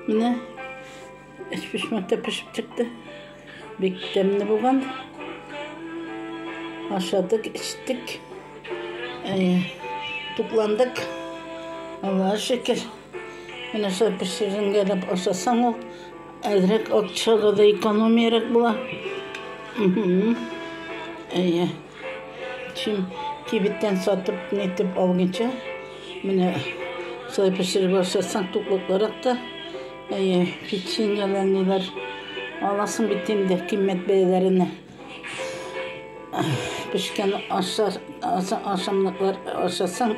Менә эч пешмәк тә пешеп чыкты. Бик тәмле булган. Ашадык, эчтек. Әйе. Тукландык. Аллаһ шөкер. Менә шул пешеренгәләп ашасаң ул әзрәк акчага да экономиярәк була. Әйе. Чим кибеттән сатып, нитеп алгыча, Менә шулай пешереп ашасаң, туклыклырак та. Әйе, печеньеләр ниләр. Аласың бит инде кыйммәт бәяләренә. Пешкән аша, аша, ашамлыклар ашасаң,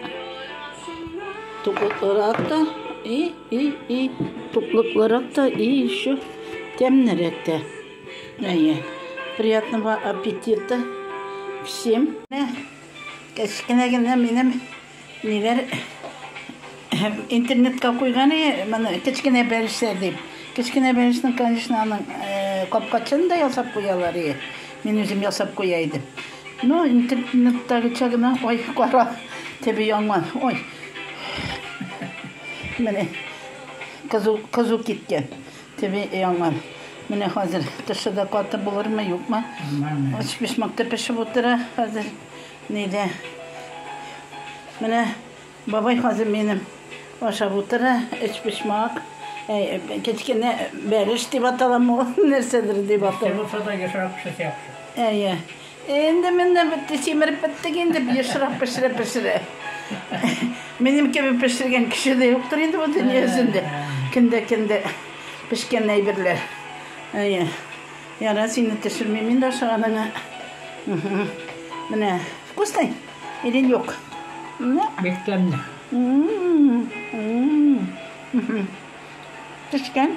туклыклырак та. И, и, и, туклыклырак та, и еще тәмнерәк тә. Әйе. Приятного аппетита всем. Кечкенә генә минем ниләр интернетка куйган и моны кечкенә бәлешчә дип. Кечкенә бәлешнең, конечно, аның капкачын да ясап куялар и. Мин үзем ясап куя идем. Ну, интернеттагыча гына, ой, кара, теби яңа, ой. Менә кызу кызу киткән. Теби яңгыр. Менә хәзер тышы да каты булырмы, юкмы? Өчпочмак та пешеп утыра хәзер. Нидә? Менә бабай хәзер минем ашап утыра өчпочмак. Кечкенә бәлеш дип аталамы ул, нәрсәдер дип атала. Нәрсә булса да яшәрә кеше яхшы. Әйе. Инде менә бетте, симереп беттек инде, ешрак пешерә пешерә. Минем кебек пешергән кеше дә юктыр инде бу дөнья йөзендә. Кендә кендә пешкән әйберләр. Әйе. Яра сине төшермим инде ашаганыңа. Менә вкусный? Или юк? Ну, бик тәмле. Пешкән.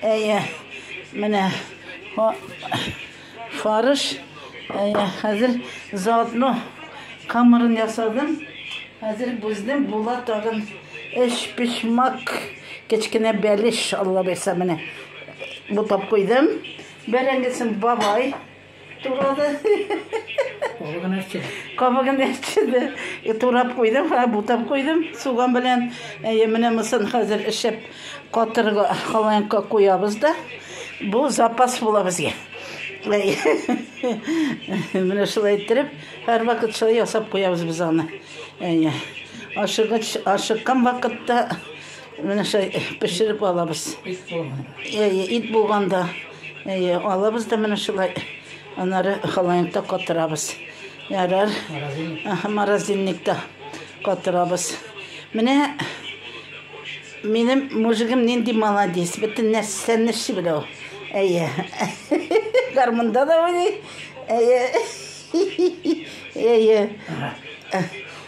Әйе, менә фарш. Әйе, хәзер заодно камырын ясадым. Хәзер бүздем, була тагын эш пешмак. Кечкенә бәлеш алла бирса менә. Бутап куйдым. Бәрәңгесен бабай Турады. Кабыгын әрчеде. Кабыгын әрчеде. И турап куйдым, һа бутап куйдым суган белән. Әйе, менә мосын хәзер эчеп катырга халаянка куябыз да. Бу запас була безгә. Менә шулай иттереп, һәр вакыт шулай ясап куябыз без аны. Әйе. Ашыгыч, ашыккан вакытта Менә шулай пешереп алабыз. Әйе, ит булганда, әйе, алабыз да менә шулай. Аннары холодильникта катырабыз. Ярар. Морозильникта катырабыз. Менә минем мужигым нинди молодец. Бөтен нәрсәне эшли белә ул. Әйе. Гармунда да уйный. Әйе. Әйе.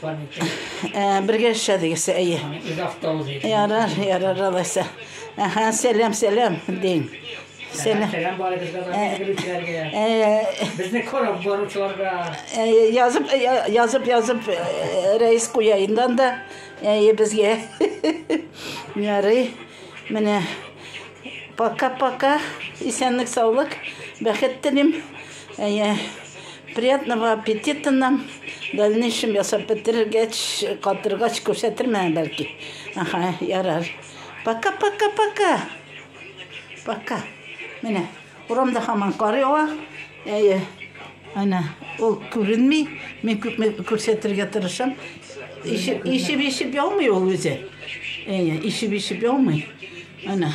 Бергә эшләдегез, әйе. Ярар, ярар, алайса. Әһә, сәлам, сәлам, дин. Сәлам. Сәлам бар Безне кораб баручыларга. Язып, язып, язып, рәис куяйындан да, әйе, безгә. Ярый, менә. Пока-пока, исәнлек, саулык, бәхет телим. Әйе, приятного аппетита нам. Дальнейшем ясап бетерергәч, катыргач күрсәтермен, бәлки. Аха, ярар. Пока, пока, пока. Пока. Менә, урамда хаман кар ява. Әйе. Ана, ул күренми. Мин күп күрсәтергә тырышам. Ишеп, ишеп, ишеп яумый ул үзе. Әйе, ишеп, ишеп яумый. Ана.